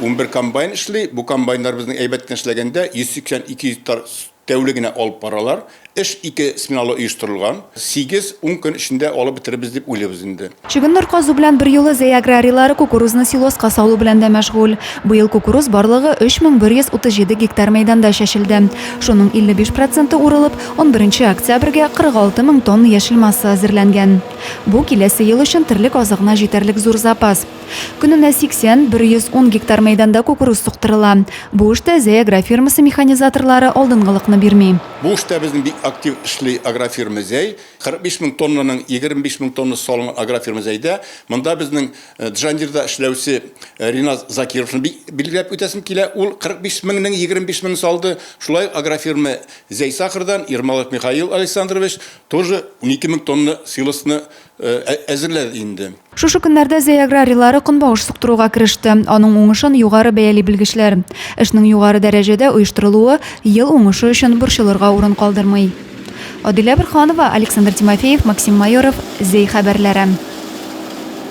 Унбер комбайн эшли. Бу комбайннар безнең әйбәт кенә эшләгәндә 180-200 гектар тәүлегенә алып баралар. Эш ике сменалы оештырылган. Сигез-ун көн эчендә алып бетерербез дип уйлыйбыз инде. Чөгендер казу белән берьюлы Зәй аграрийлары кукурузны силоска салу белән дә мәшгуль. Быел кукуруз барлыгы 3137 гектар мәйданда чәчелде. Шуның 55 проценты урылып, унберенче октябрьгә 46 мең тонна яшел масса әзерләнгән. Бу, киләсе ел өчен терлек азыгына җитәрлек зур запас. Көненә 80, 110 гектар мәйданда кукуруз суктырыла. Бу эштә Зәй агрофирмасы механизаторлары алдынгылыкны бирми. Бу эштә безнең бик актив эшли агрофирма Зәй. 45 мең тоннаның 25 мең тоннасы салынган агрофирма Зәйдә. Монда безнең Джан Дирда эшләүче Риназ Закировны бик билгеләп үтәсем килә. Ул 45 меңнең 25 меңен салды. Шулай ук агрофирма Зәй Сахардан Ермолаев Михаил Александрович тоже унике мең тонна силосны әзерләр инде. Шушы көннәрдә Зәй аграрилары көнбагыш суктыруга кереште. Аның уңышын югары бәяли белгечләр. Эшнең югары дәрәҗәдә оештырылуы ел уңышы өчен борчылырга урын калдырмый. Адилә Борһанова, Александр Тимофеев, Максим Майоров, Зәй хәбәрләре.